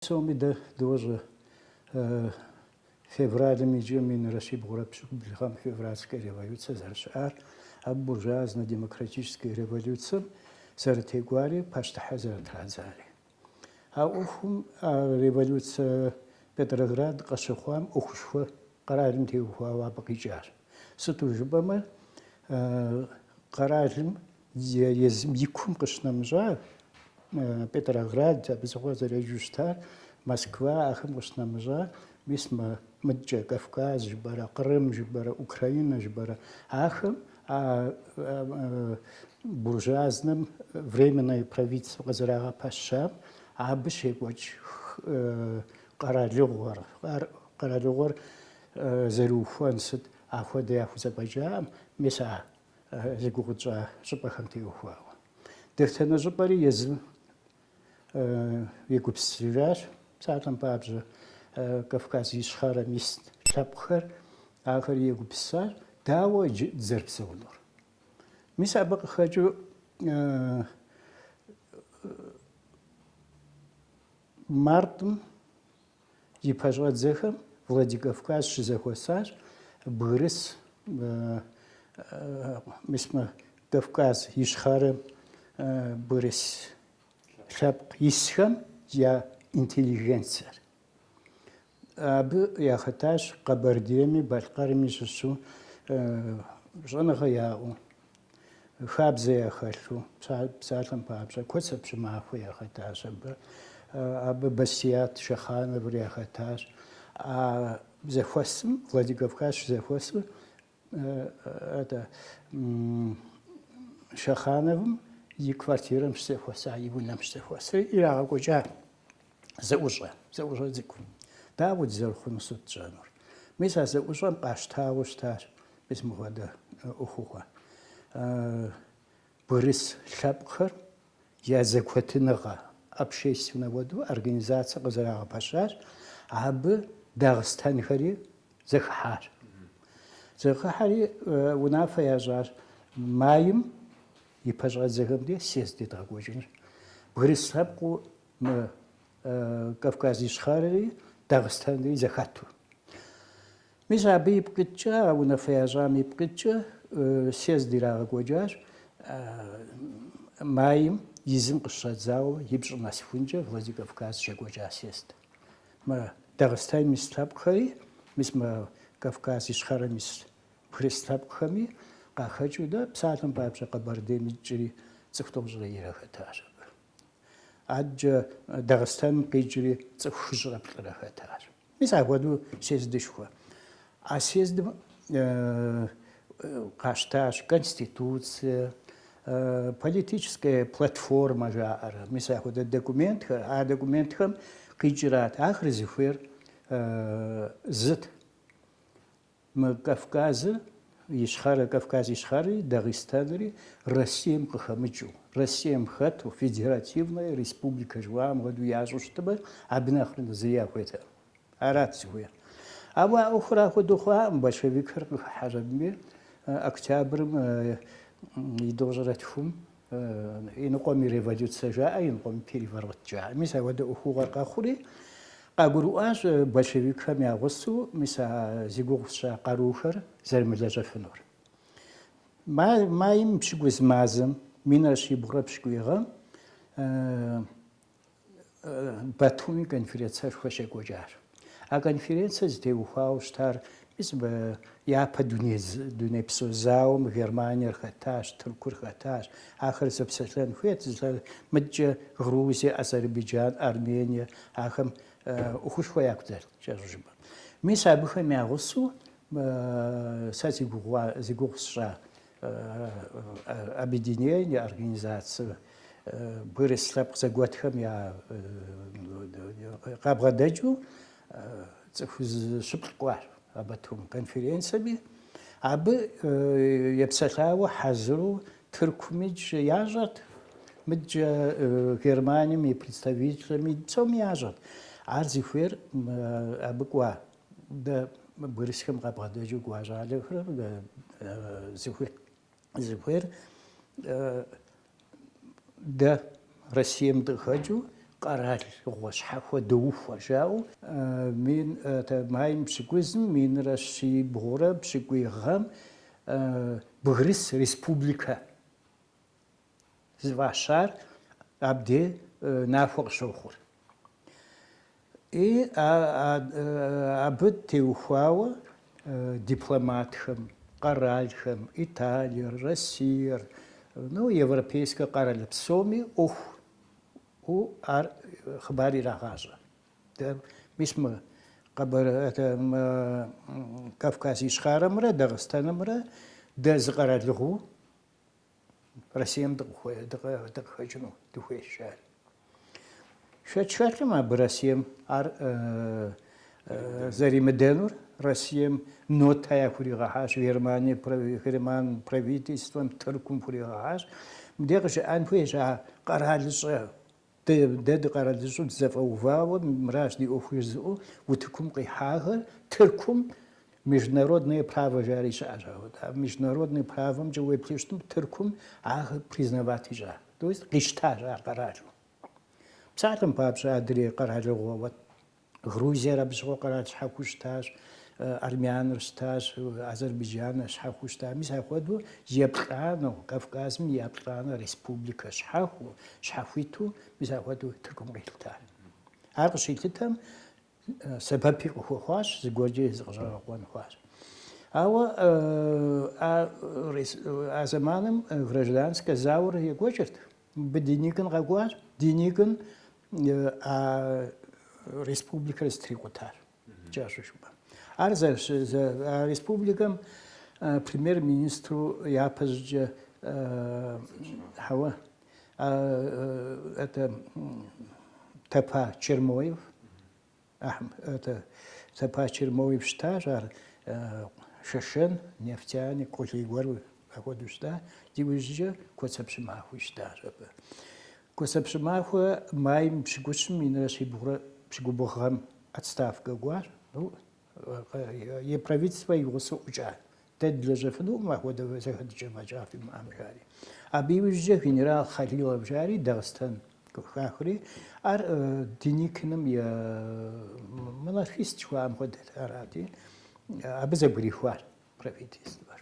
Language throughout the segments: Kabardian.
Псоми дэ дощӏэ февралым иджы минрэ щибгъурэ пщыкӏубл гъэм февральскэ революцэ зэрыщыӏар, абы буржуазно демократическэ революцэм зэрытекӏуари, пащтыхьыр зэрытрадзари. А ӏуэхум а революцэ Петроград къыщыхъуам ӏуэхушхуэ къэралым теухуауэ абы къикӏащ. Сыту жыпӏэмэ къэралым Езым и кум къыщынэмыщӏа Петроград, абы щыгъуэ зэреджэу щытар, Москва, ахэм къыщынэмыщӏа, мис мы мыдкӏэ Кавказ жыпӏэрэ, Кърым жыпӏэрэ, Украинэ жыпӏэрэ, ахэм а буржуазным временное правительство къызэрагъэпэщам, абы щекӏуэкӏ къэралыгъуэр, ар къэралыгъуэр зэрыухуэн сыт, ахуэдэ яхузэфӏэкӏакъым, мис а зи гугъу тщӏа щӏыпӏэхэм теухуауэ. Дэтхэнэ щӏыпӏэри езым егупсысыжащ, псалъэм папщӏэ, Кавказ Ищхъэрэм ис лъэпкъхэр ахэр егупсысащ, дауэ иджы дызэрыпсэунур. Мис абы къыхэкӏыу мартым И пэщӏэдзэхэм Владикавказ щызэхуэсащ бгырыс мис мы Кавказ Ищхъэрэм бгырыс лъэпкъ исхэм я интеллигенцэр. Абы яхэтащ Къэбэрдейми Балъкъэрми щыщу щӏэныгъэ яӏэу. Хабзэ яхэлъу, псалъэм папщӏэ, Куэцэ Пщымахуэ яхэтащ абы. Абы Басият Шэхъановыр яхэтащ. А зэхуэсым, Владикавказ щызэхуэсу, это, Шэхъановым и квартирэм щызэхуэса, и унэм щызэхуэсри ирагъэкӏуэкӏа. Зэӏущӏэ, зэӏущӏэ цӏыкӏу. Дауэ дызэрыхъуну сыт тщӏэнур? Мис а зэӏущӏэм къащтауэ щытащ мис мыхуэдэ ӏуэхугъуэ. Бгырыс лъэпкъхэр я зэкъуэтыныгъэ общественнэ хуэдэу организацэ къызэрагъэпэщащ, абы дагъыстэнхэри зэхыхьащ. Зэхыхьэри унафэ ящӏащ майм и пэщӏэдзэхэм ди съезд едгъэкӏуэкӏынщ. Бгырыс лъэпкъыу Мы Кавказ Ищхъэрэри Дагъыстэнри зэхэту. Мис абы ипкъ иткӏэ, а унафэ ящӏам ипкъ иткӏэ съезд ирагъэкӏуэкӏащ майм и зым къыщыщӏэдзауэ и пщӏы нэсыхункӏэ Владикавказ щекӏуэкӏа съезд. Мы Дагъыстэным ис лъэпкъхэри, мис мы Кавказ Ищхъэрэм ис бгырыс лъэпкъхэми къахэкӏыу дэ псалъэм папщӏэ Къэбэрдейм икӏри цӏыху тӏощӏрэ ирэ хэтащ абы. Адэкӏэ Дагъыстэным къикӏри цӏыху хыщӏрэ плӏырэ хэтащ. Мис апхуэдэу съездышхуэ. А съездым къащтащ конституцие, политическая платформа жаӏэрэ, мис апхуэдэ документхэр, а документхэм къикӏырат ахэр зыхуейр зыт. Мы Кавказ Ищхъэрэ, Кавказ Ищхъэри, Дагъыстэнри Россием къыхэмыкӏыу, Россием хэту, федеративнэ республикэ жыхуаӏэм хуэдэу ящӏу щытымэ, абы нэхърэ нэхъ зыри яхуейтэкъым. Арат зыхуейр. Ауэ а ӏуэхур ахуэдэу хъуакъым, большевикхэр къыхыхьэщ абыми, октябрым и тӏощӏрэ тхум Иныкъуэми революцэ жаӏэ, иныкъуэми переворот жаӏэ. Мис ауэдэ ӏуэхугъуэр къэхъури, къагурыӏуащ большевикхэм я гъусэу, мис а зи гугъу сщӏа къарухэр зэрымылэжьэфынур. Майм пщыкӏуз мазэм, минрэ щибгъурэ пщыкӏуий гъэм, Батуми конференцэшхуэ щекӏуэкӏар. А конференцэр зытеухуауэ щытар мис абы япэ дунейпсо зауэм Германиер хэтащ, Тыркур хэтащ. Ахэр зэпсэлъэн хуейт, зы лъэ мыдэкӏэ Грузие, Азербайджан, Армение, ахэм ӏуэхушхуэ яку дэлът, кӏэщӏу жыпӏэм. Мис абыхэм я гъусэу сэ зи гугъу сщӏа Объединение я организацэ бгырыс лъэпкъ зэгуэтхэм я къабгъэдэкӏыу цӏыху зыщыплӏ кӏуащ а Батум конференциеми. Абы епсэлъауэ хьэзыру Тыркумикӏ ящӏэрт, мыдэкӏэ Германием и представителми псоми ящӏэрт. Ар зыхуейр абы кӏуа Дэ бгырысхэм къабгъэдэкӏыу кӏуа щӏалэхэр зыхуейр дэ Россием дыкъыхэкӏыу къэралыгъуэ щхьэхуэ доухуэр жаӏэу мин майм пщыкӏузым минрэ щибгъурэ пщыкӏуий гъэм бгырыс республикэ зыфӏащар абде нахуэ къыщохъур. И абы теухуауэ дипломатхэм, къэралхэм, Италиер, Россиер, ну, европейскэ къэрал псоми ӏуэху у ар хъыбар ирагъащӏэ. Дэ мис мы Къэбэр это Кавказ Ищхъэрэмрэ Дагъыстэнымрэ дэ зы къэралыгъуэу Россием дыкъыхэкӏыну дыхуейщ ар. Шэч хэлъкъым абы Россием ар зэримыдэнур Россием нотэ яхуригъэхьащ, Германие, Герман правительствэм, Тыркум хуригъэхьащ. Мыдэ къыжыӏэн хуейщ а къэралыщӏэ Дэ, дэ дыкъэралыщӏэу дызэфӏэувауэ мыращ ди ӏуэху жызыӏэу утыкум къихьахэр, Тыркум международное право жари щыӏэщ, ауэ а международное правомкӏэ уеплъу щытым Тыркум ахэр признавать ищӏа, то есть къищтащ ар къэралу. Псалъэм папщӏэ, адрей къэралыгъуэ уэт. Грузиер абы щыгъуэ къэрал щхьэхуэу щытащ, Армяныр щытащ, Азэрбыджаныр щхьэхуэу щыта. Мис апхуэдэу еплӏанэу, Кавказым и еплӏанэ республикэ щхьэхуэу, щхьэхуиту мис апхуэдэу Тыркум къилъыта. Ар къыщилъытэм сэбэпи къыхуэхъуащ, зыгуэркӏэ зыкъыщӏэгъэкъуэн хъуащ. Ауэ а зэманым гражданскэ зауэр екӏуэкӏырт. Мыбы Деникин къэкӏуащ, Деникин а республикэр зытрикъутар. Кӏэщӏу жыпӏэм. Ар а республикэм премьер-министру япэ щӏыкӏэ хьэуэ это Тапа Чермоев Тапа Чермоев щытащ ар шэшэн, нефтяник, къулей гуэр апхуэдэу щытат. Иужькӏэ Куэцэ Пщымахуи щытащ абы. Куэцэ Пщымахуэ майм пщыкӏущым минрэ щибгъурэ пщыкӏубгъу гъэм отставкэ кӏуащ. и правительствэ и гъусэ ӏукӏа. Дэ дылэжьэфынукъым апхуэдэ зэхэтыкӏэ фӏэкӏа фимыӏэм, жари. Абы иужькӏэ генерал Халилов жари Дагъыстэн хахри, ар Деникиным и монархист жыхуаӏэм хуэдэт арати, абы зэбгрихуар правительствэр.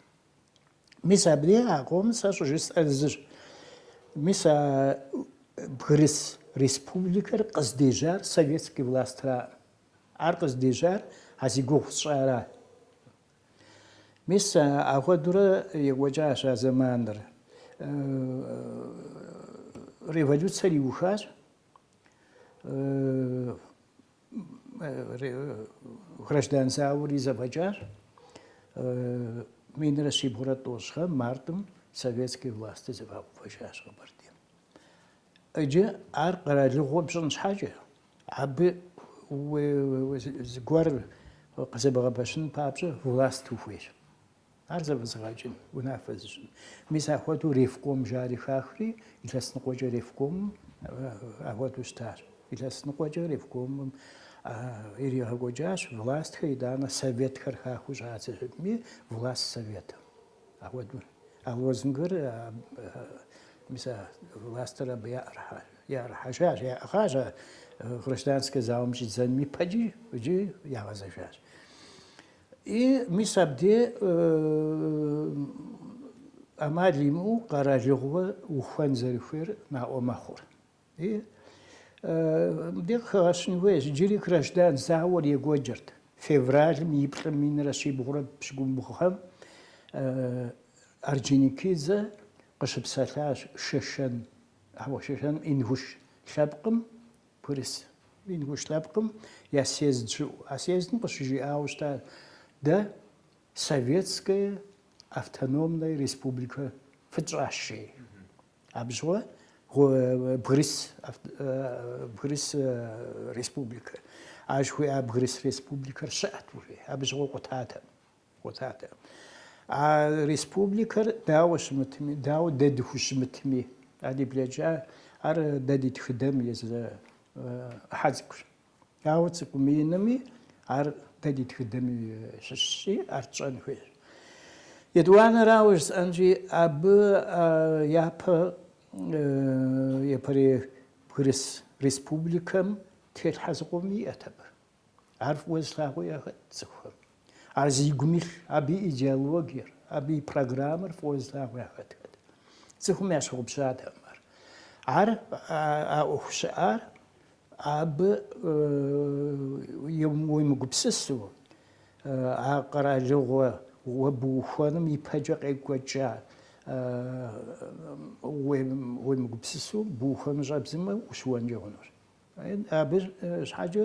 Мис абыи а къомыр сэ щӏыжысӏэр зыщ. Мис а бгырыс республикэр къыздежьар советский властьраӏым. Ар къыздежьар а зи гугъу сщӏара. Мис ахуэдурэ екӏуэкӏащ а зэманыр. Революцэр иухащ. Граждан зауэри зэфӏэкӏащ. Минрэ щибгъурэ тӏощӏ гъэм мартым советский власти зэфӏэувэжащ Къэбэрдейм. Иджы ар къэралыгъуэ пщӏын щхьэкӏэ, абы зыгуэр къызэбгъэпэщын папщӏэ власт ухуейщ. Ар зэфӏэзыгъэкӏын, унафэ зыщӏын. Мис ахуэдэу ревком жари хахри, илъэс ныкъуэкӏэ ревкомым ахуэдэу щытащ. Илъэс ныкъуэкӏэ ревкомым иригъэкӏуэкӏащ властхэр, итӏанэ советхэр хахыу щӏадзэжытми, власт советым. Апхуэдэу а лозунгыр мис а властыр абы яӏэрыхьэжащ, яӏыгъащ а гражданскэ зауэм щӏидзэным ипэкӏи иджы ягъэзэжащ. И мис абдей ӏэмал имыӏэу къэралыгъуэ ухуэн зэрыхуейр наӏуэ мэхъур. И мыбдей къыхэгъэщын хуейщ. Иджыри граждан зауэр екӏуэкӏырт. Февралым и плӏым минрэ щибгъурэ пщыкӏубгъухэм Орджоникидзе къыщыпсэлъащ Шэшэн, ауэ Шэшэным Ингуш лъэпкъым бгырыс Ингуш лъэпкъым я съезд щыӏу. А съездым къыщыжиӏауэ щыта, Дэ Советская автономная республикэ фытщӏащи. Абы щыгъуэ Бгырыс Бгырыс республикэ. Ар жыхуиӏа Бгырыс республикэр щыӏэт уже. Абы щыгъуэ къутатэкъым. Къутатэкъым. А республикэр дауэ щымытми, дауэ дэ дыхущымытми, а ди блэкӏа, ар дэ ди тхыдэм и зы ӏыхьэ цӏыкӏущ. Ауэ цӏыкӏуми инми ар дэ ди тхыдэм и щыщщи, ар тщӏэн хуейщ. Етӏуанэрауэ жысӏэнщи, абы япэ япэрей бгырыс республикэм телъхьэ зыкъом иӏэт абы. Ар фӏыуэ зылъагъуу яхэт цӏыхухэм. Ар зи гум илъ, абы и идеологиер, абы и программэр фӏыуэ зылъагъу яхэтхэт. Цӏыхум ящыгъупщатэкъым ар. Ар а ӏуэху щыӏар абы уемыгупсысу, а къэралыгъуэ уэ бухуэным ипэкӏэ къекӏуэкӏа уемыгупсысу, бухуэну щӏэбдзэмэ, ущыуэнкӏэ хъунущ. Абы щхьэкӏэ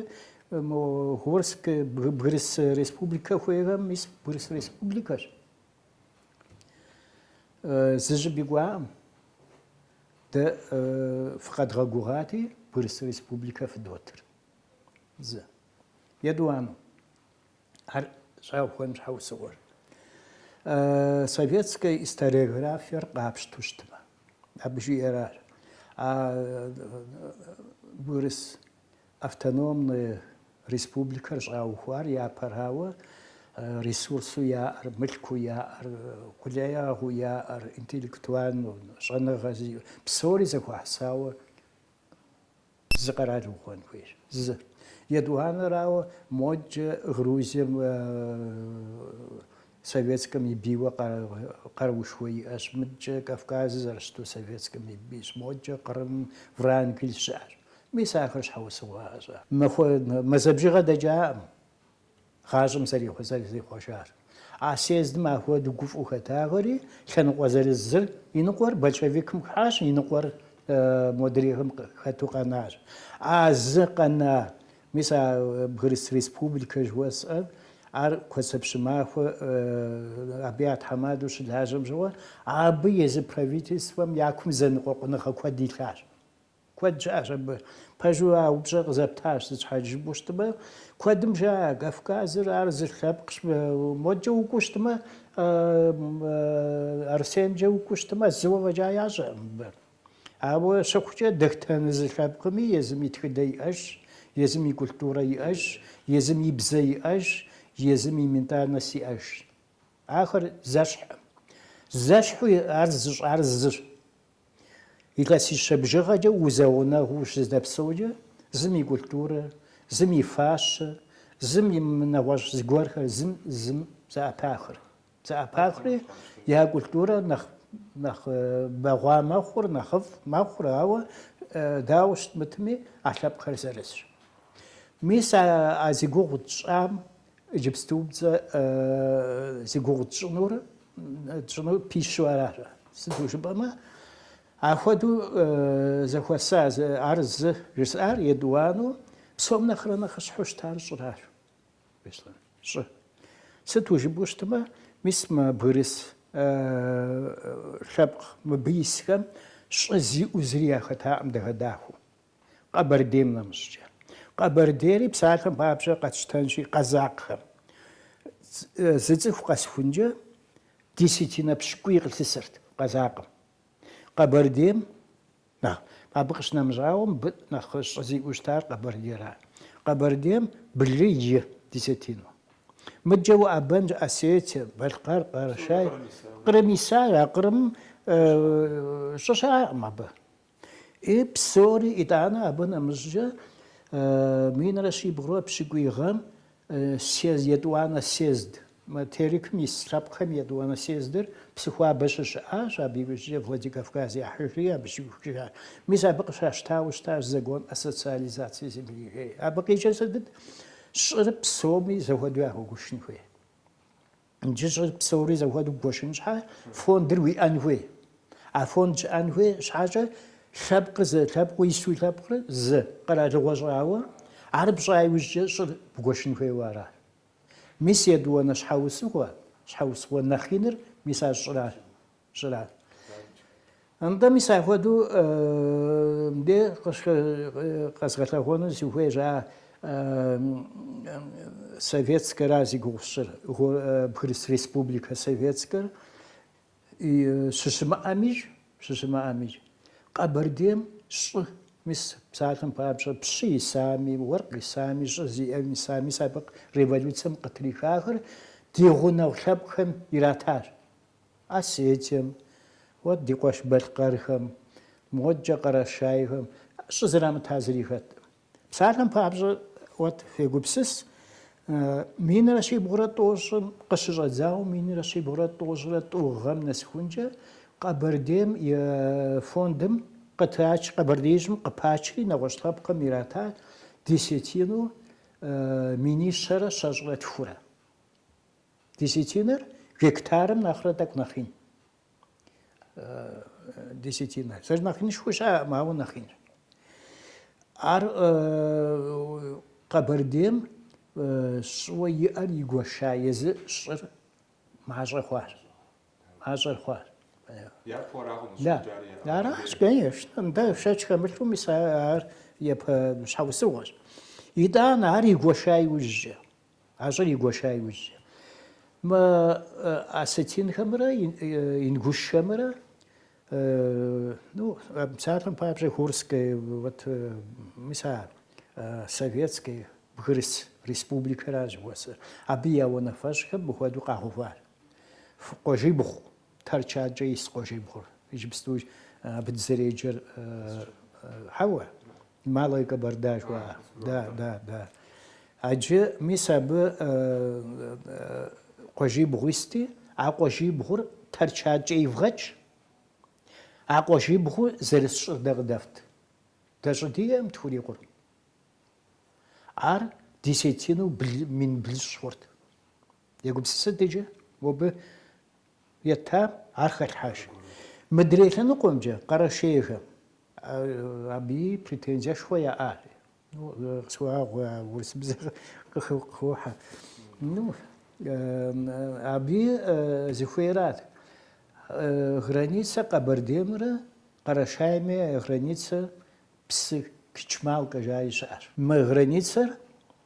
мо Горскэ Бгырыс республикэ хуейхэм мис Бгырыс республикэщ. Зыщӏыпӏи кӏуакъым. Дэ фыкъэдгъэгугъати, Бгырыс республикэ фыдотыр. Зы. Етӏуанэу. Ар щӏаухуэным щхьэусыгъуэр советскэ историографиер къапщту щытмэ, абы жиӏэр ар. А Бгырыс автономный республикэр щӏаухуар япэрауэ ресурсу яӏэр, мылъку яӏэр, къулеягъыу яӏэр, интеллектуальнэу, щӏэныгъэ зиӏэ, псори зэхуэхьысауэ Зы къэрал ухуэн хуейщ. Зы. Етӏуанэрауэ, модкӏэ Грузием Советскэм и бийуэ къаруушхуэ иӏэщ. Мыдкӏэ Кавказыр зэрыщыту Советскэм и бийщ. Модкӏэ Кърым, Врангель щыӏэщ. Мис ахэр щхьэусыгъуэ ящӏат. Махуэ мазэ бжыгъэ дэкӏакъым. Гъащӏэм зэрызихъуэжар. А съездым ахуэдэу гуфӏыу хэтахэри, лъэныкъуэ зырыз зыр и ныкъуэр большевикым хыхьащ, и ныкъуэр модрейхэм хэту къэнащ. А зы къэна, мис а Бгырыс Республикэ жыхуэсӏэр, ар Куэцэ Пщымахуэ, абы я тхьэмадэу щылажьэм щыгъуэ, абы езы правительствэм я кум зэныкъуэкъуныгъэ куэд илъащ. Куэд щыӏэщ абы. Пэжу а упщӏэр къызэптащ сыт щхьэ жыпӏэу щытмэ. Куэдым жаӏэ, Кавказыр ар зы лъэпкъщ. Модэкӏэ укӏуэу щытмэ, Арысеймкӏэ укӏуэу щытмэ, зыуэ фӏэкӏа ящӏэкъым абы. Ауэ щыхъукӏэ, дэхтэнэ зы лъэпкъми езым и тхыдэ иӏэжщ, езым и культурэ иӏэжщ, езым и бзэ иӏэжщ, езым и ментальность иӏэжщ. Ахэр зэщхьӏым. Зэщхьу ар зыщӏар зыщ. Илъэсищэ бжыгъэкӏэ узэгъунэгъуу ущыздэпсэукӏэ, зым и культурэр, зым и фащэр, зым и нэгъуэщӏ зыгуэрхэр зым зым зэӏэпахыр. Зэӏэпахри, я культурэр нэхъ нэхъ бэгъуа мэхъур, нэхъыфӏ мэхъур, ауэ дауэ щытмытми а лъэпкъхэр зырызщ. Мис а а зи гугъу тщӏам Иджыпступцӏэ зи гугъу тщӏынур тщӏыну пищу аращ. Сыту жыпӏэмэ, ахуэдэу зэхуэса ар зы жысӏар етӏуану псом нэхърэ нэхъыщхьэу щытар щӏыращ. Щӏы. Сыту жыпӏэу щытмэ, мис мы бгырыс лъэпкъ мыбы исхэм щӏы зиӏэу зыри яхэтакъым дахэ-дахэу. Къэбэрдейм нэмыщӏкӏэ. Къэбэрдейри псалъэм папщӏэ къэтщтэнщи, къэзакъхэм. Зы цӏыху къэсхункӏэ десятинэ пщыкӏуий къылъысырт къэзакъым. Къэбэрдейм нэхъ, абы къыщынэмыщӏауэ, мыбы нэхъ щӏы зиӏэу щытар Къэбэрдейра. Къэбэрдейм блы и десятину. Мыдэкӏэ уӏэбэнщ Осетие, Балъкъэр, Къэрэшей. Къырым исар, а къырым щӏы щыӏэкъым абы. И псори, итӏанэ абы нэмыщӏкӏэ минрэ щибгъурэ пщыкӏуий гъэм съезд, етӏуанэ съезд, мы Терекым ис лъэпкъхэм и етӏуанэ съездыр Псыхуабэ щыщыӏащ, абы иужькӏэ Владикавказ яхьыжри абы щиухыжащ. Мис абы къыщащтауэ щытащ Закон о социализации земли, жери. Абы къикӏыр сытыт? Щӏыр псоми зэхуэдэу яхуэгуэшын хуей. Иджы щӏыр псори зэхуэдэу бгуэшын щхьа, фондыр уиӏэн хуей. А фонд щыӏэн хуей щхьэкӏэ лъэпкъ зы, лъэпкъ ису лъэпкъыр зы къэралыгъуэ щӏауэ, ар пщӏа иужькӏэ щӏыр бгуэшын хуейуэ аращ. Мис етӏуанэ щхьэусыгъуэ, щхьэусыгъуэ нэхъ иныр мис ар щӏыращ. Щӏырат. Нтӏэ, мис ахуэдэу мыдэ къэзгъэлъэгъуэну зыхуей жа советскэра зи гугъу сщӏыр, Бгырыс республикэ советскэр щыщымыӏэмижь, щыщымыӏэмижь, Къэбэрдейм щӏы, мис псалъэм папщӏэ, пщы исами, уэркъ исами, щӏы зиӏэм исами, мис абы революцэм къытрихахэр ди гъунэгъу лъэпкъхэм иратащ. Осетием, уэт, ди къуэш Балъкъэрхэм, модкӏэ Къэрэшейхэм щӏызэрамыта зыри хэткъым. Псалъэм папщӏэ, уэт, фегупсыс, минрэ щибгъурэ тӏощӏым къыщыщӏэдзауэ минрэ щибгъурэ тӏощӏрэ тӏу гъэм нэсыхункӏэ Къэбэрдейм и фондым къытрач, Къэбэрдеижьым къыпачри нэгъуэщӏ лъэпкъхэм ирата десятину минищэрэ щэщӏрэ тхурэ. Десятинэр гектарым нэхърэ тӏэкӏу нэхъ ин. Десятинэр. Зэрынэхъ инышхуэ щаӏэкъым, ауэ нэхъ инщ. Ар Къэбэрдейм щӏыуэ иӏэр игуэша езы щӏыр мащӏэ хъуар. Мащӏэр хъуар. Да. Аращ, конечно. Нтӏэ шэч хэмылъу мис ар япэ щхьэусыгъуэщ. Итӏан ар игуэша иужькӏэ. А щӏыр игуэша иужькӏэ. Мы осетинхэмрэ ингушхэмрэ, ну, псалъэм папщӏэ, Горскэ, вот, мис а Советскэ, Бгырыс республикэращ уэсыр. Абы я унафэщӏхэм мыхуэдэу къагъэувар. Къуажибгъу Тэрч адкӏэ ис къуажибгъур. Иджыпсту абы дызэреджэр хьэуэ, Малая Кабарда жыхуаӏэ. Да, да, да. Аджы мис абы къуажибгъу исти, а къуажибгъур Тэрч адкӏэ ивгъэкӏ. А къуажибгъу зэрыс щӏыр дэ къыдэфт. Дэ щӏы диӏэм тхурикъур. Ар десятину мин блыщӏ хъурт. Егупсысыт иджы, мобы етам, ар хэлъхьэж. Мыдрей лъэныкъуэмкӏэ Къэрэшейхэм абыи претензиешхуэ яӏащ. Къысхуэгъэгъу, урысыбзэр къыхохьэ. Ну, абыи зыхуейрат. Границэ Къэбэрдеймрэ Къэрэшейми границэ псы Кичмалкэ жаи щыӏэщ. Мы границэр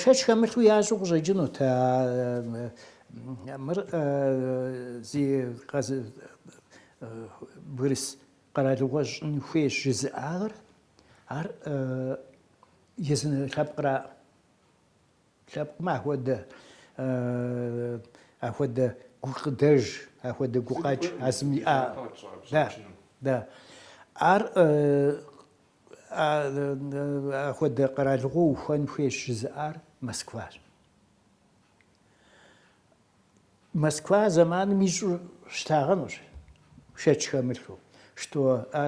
Шэч хэмылъу ящӏу къыщӏэкӏынут. Мыр зы бгырыс къэралыгъуэ щӏын хуейщ жызыӏагъэр. Ар езы лъэпкъра лъэпкъмэ ахуэдэ ахуэдэ гукъыдэж, ахуэдэ гукъэкӏ а зым иӏа. Да, да. Ар Ахуэдэ къэралыгъуэ ухуэн хуейщ жызыӏар Москващ. Москва зэманым ищӏу щытагъэнущ шэч хэмылъу, что а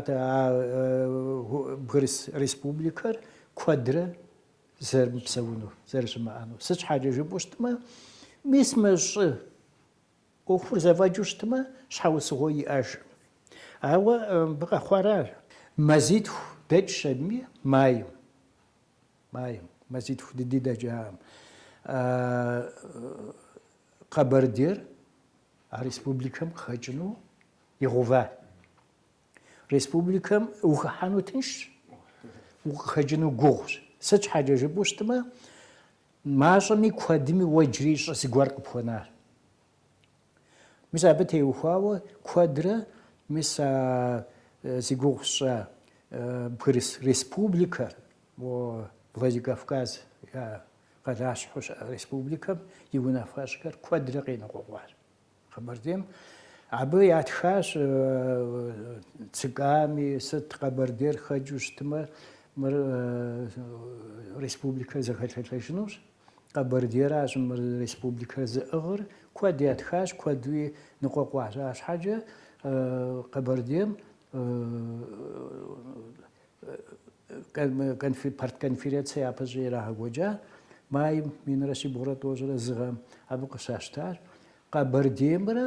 бгырыс республикэр куэдрэ зэрымыпсэуну, зэрыщымыӏэну. Сыт щхьэкӏэ жыпӏэу щытмэ, мис мы щӏы ӏуэхур зэфӏэкӏыу щытмэ, щхьэусыгъуэ иӏэжкъым. Ауэ мыбы къэхъуаращ. Мазитху дэкӏщ абыми майм. Майм. Мазитху дыди дэкӏаӏым. Къэбэрдейр а республикэм къыхэкӏыну ува. Республикэм ухыхьэну тыншщ, укъыхэкӏыну гугъущ. Сыт щхьэкӏэ жыпӏэу щытмэ, мащӏэми куэдми уэ иджыри щӏы зыгуэр къыпхуэнар. Мис абы теухуауэ куэдрэ мис а зи гугъу сщӏа бгырыс республикэр, Владикавказ я къалащхьэу щыӏэ республикэм и унафэщӏхэр куэдрэ къеныкъуэкъуащ. Къэбэрдейм абы ятхащ ЦК-ми, сыт Къэбэрдейр хэкӏыу щытмэ, мыр республикэр зэхэлъэлъэжынущ, Къэбэрдейращ мыр республикэр зыӏыгъыр, куэд ятхащ, куэдуи ныкъуэкъуащ. Ащхьэкӏэ Къэбэрдейм Партконференцэ япэщӏи ирагъэкӏуэкӏа майм минрэ щибгъурэ тӏощӏрэ зы гъэм. Абы къыщащтащ Къэбэрдеймрэ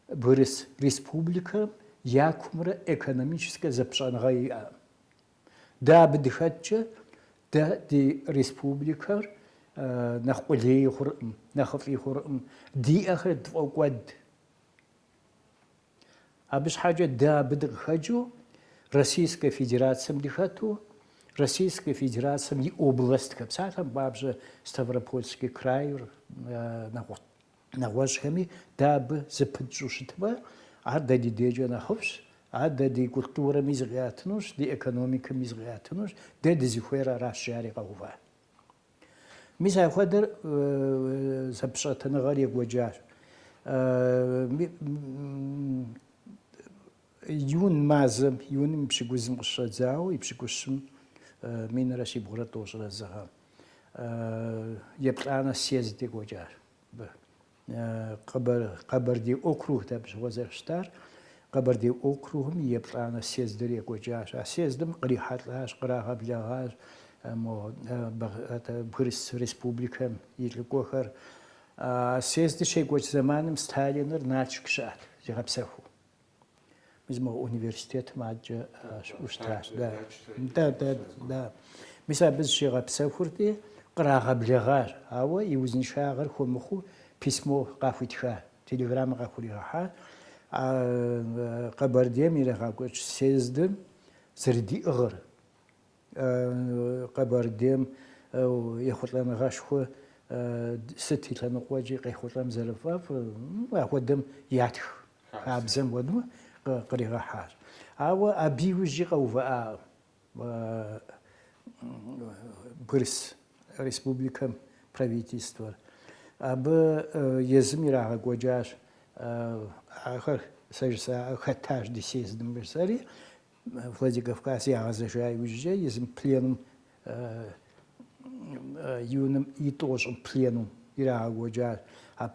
Бгырыс Республикэм я кумрэ экономическэ зэпыщӏэныгъэ иӏэӏым. Дэ абы дыхэткӏэ, дэ ди республикэр нэхъ къулей хъурӏым, нэхъыфӏи хъурӏым, диӏэхэр дфӏокӏуэд. Абы щхьэкӏэ дэ абы дыкъыхэкӏыу Российскэ Федерацэм дыхэту, Российскэ Федерацэм и областхэм, псалъэм папщӏэ, Ставропольский крайр нэгъуэщӏхэми дэ абы зыпытщӏу щытмэ, ар дэ ди дежкӏэ нэхъыфӏщ, ар дэ ди культурэми зыкъиӏэтынущ, ди экономикэми зыкъиӏэтынущ, дэ дызыхуейр аращ, жари къэува. Мис апхуэдэр зэпэщӏэтыныгъэр екӏуэкӏащ. Июн мазэм, июным и пщыкӏузым къыщыщӏэдзауэ, и пщыкӏущым минрэ щибгъурэ тӏощӏрэ зы гъэм еплӏанэ съезд екӏуэкӏащ. Къэбэрдей округт абщыгъуэ зэрыщытар, Къэбэрдей округым и еплӏанэ съездыр екӏуэкӏащ. А съездым кърихьэлӏащ, кърагъэблэгъащ мо Бгырыс Республикэм и лӏыкӏуэхэр. А съездыр щекӏуэкӏ зэманым Сталиныр Налшык щыӏэт, зигъэпсэхуу. Мис мы университетым адкӏэ щыӏэу щытащ. Да, да, да, да. Мис абы зыщигъэпсэхурти, кърагъэблэгъащ, ауэ и узыншагъэр хуэмыхъуу письмо къахуитха, телеграммэ къахуригъэхьа, Къэбэрдейм ирагъэкӏуэкӏ съездыр зэрыдиӏыгъыр, Къэбэрдейм ехъулӏэныгъэшхуэ сыт и лъэныкъуэкӏи къехъулӏэм зэрыфӏэфӏыр, апхуэдэм ятх хабзэм хуэдэу къригъэхьащ. Ауэ абы иужьи къэувыӏакъым Бгырыс Республикэм правительствэр. Абы езым ирагъэкӏуэкӏащ ахэр, сэ жысӏакъэ, хэтащ ди съездым жысӏэри, Владикавказ ягъэзэжа иужькӏэ езым пленум июным и тӏощӏым пленум ирагъэкӏуэкӏащ. А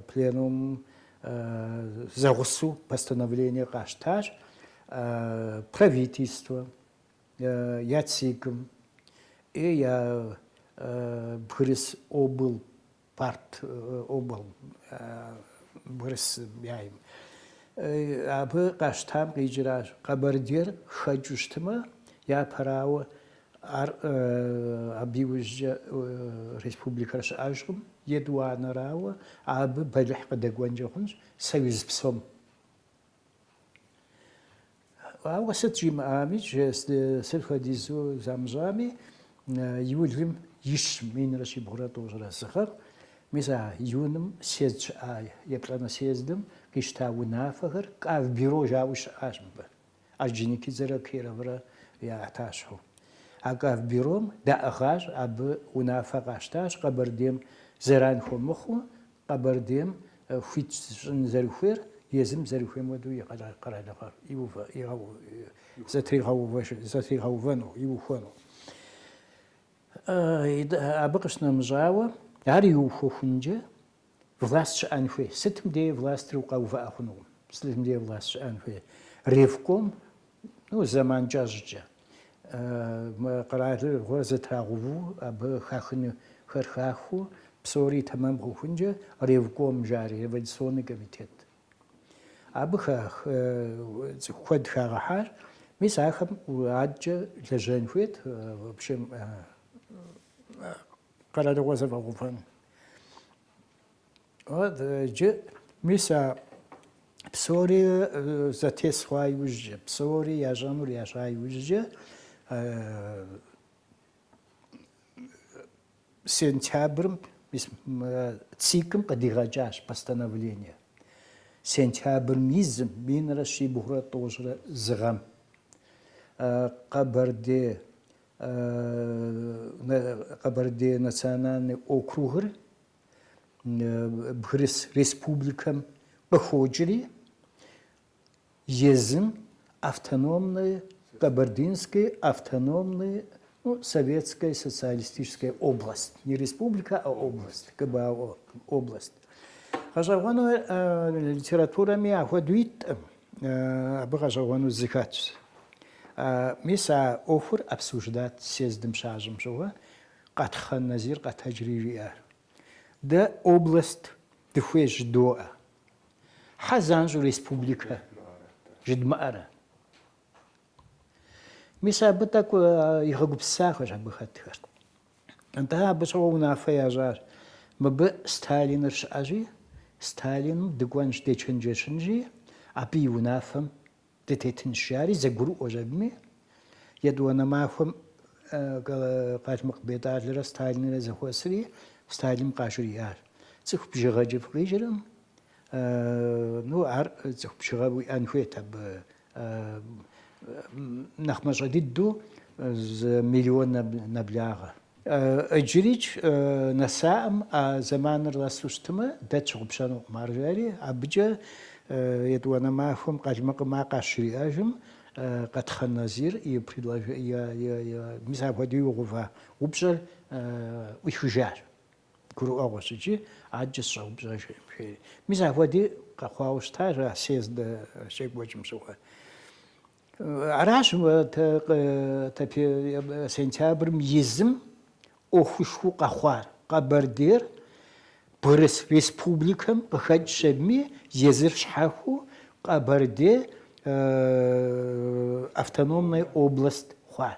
пленум зэгъусэу постановление къащтащ правительствэм, я ЦИК-м и я бгырыс обл. Парт обл. Бгырысейм. Абы къащтам къикӏыращ. Къэбэрдейр хэкӏыу щытмэ, япэрауэ ар абы иужькӏэ республикэр щыӏэжкъым, етӏуанэрауэ абы бэлыхь къыдэкӏуэнкӏэ хъунщ союз псом. Ауэ сыт жимыӏами, сыт хуэдизу замыщӏами, июлым и щым минрэ щибгъурэ тӏощӏрэ зы гъэм. Мис а июным съезд щыӏа, еплӏанэ съездым къищта унафэхэр кавбюро жауи щыӏащ мыбы. Орджоникидзэрэ Кироврэ я ӏэтащхьэу. А кавбюром даӏыгъащ, абы унафэ къащтащ Къэбэрдейм зэран хуэмыхъуу Къэбэрдейм хуит щӏын зэрыхуейр езым зэрыхуейм хуэдэу и къэралыгъэр зэтригъэувэну, иухуэну. Абы къыщынэмыщӏауэ, ар иухуэхункӏэ власт щыӏэн хуей. Сытым дей властыр укъэувыӏэ хъунукъым, сытым дей власт щыӏэн хуей. Ревком Ну, зэман кӏэщӏкӏэ. Мы къэралыгъуэр зэтрагъэуву, абы хахынхэр хахыу, псори тэмэм хъухункӏэ ревком жари, революционный комитет. Абы хах- цӏыху куэд хагъэхьар, мис ахэм адэкӏэ лэжьэн хуейт, в общем, къэралыгъуэ зэфӏэгъэувэн. Иджы мис а псори зэтес хъуа иужькӏэ, псори ящӏэнур ящӏа иужькӏэ, сентябрым ВЦИК-м къыдигъэкӏащ постановление. Сентябрым и зым минрэ щибгъурэ тӏощӏрэ зы гъэм Къэбэрдей Къэбэрдей национальный округыр Бгырыс республикэм къыхокӏри, езым автономной Кабардинской автономной ну, Советской социалистической область. Не республика, а область, КБАО, область. Гъэщӏэгъуэну литературэми ахуэдэу итӏым, абы гъэщӏэгъуэну зы хэтщ. Мис а ӏуэхур обсуждать съездым щащӏым щыгъуэ, Къэтхъэн Назир къэтэджри жиӏар, Дэ область дыхуейщ жыдоӏэ. Хьэ занщӏэу республикэ жыдмыӏэрэ? Мис абы тӏэкӏу игъэгупсысахэщ абы хэтхэр. Нтӏэ абы щыгъуэ унафэ ящӏащ, мыбы Сталиныр щыӏэщи, Сталиным дыкӏуэнщ, дечэнджэщынщи, абы и унафэм Дытетынщ, жари зэгурыӏуэщ абыми. Етӏуанэ махуэм Къалмыкъ Бетӏалрэ Сталинрэ зэхуэсри, Сталиным къажриӏащ. Цӏыху бжыгъэкӏэ фыкъижыркъым. Ну, ар цӏыху бжыгъэ уиӏэн хуейт абы. Нэхъ мащӏэ дыдэу зы миллион нэблагъэ. Иджырикӏ нэсаӏым а зэманыр нэсу щытымэ, дэ тщыгъупщэнукъым, ар жери, абыкӏэ етӏуанэ махуэм Къалмыкъым ар къажриӏэжым, Къэтхъэн Назир и предлож-, и-и-и-и, мис апхуэдэу игъэува упщӏэр ӏуихыжащ, гурыӏуэгъуэщ икӏи, адэкӏэ сщӏэупщӏэжкъым, жери. Мис апхуэдэи къэхъуауэ щытащ а съезд щекӏуэкӏым щыгъуэ. Аращ сентябрым и зым ӏуэхушхуэу къэхъуар Къэбэрдейр бгырыс республикэм къыхэкӏ щебми езыр щхьэхуэу Къэбэрдей автономной область хъуар.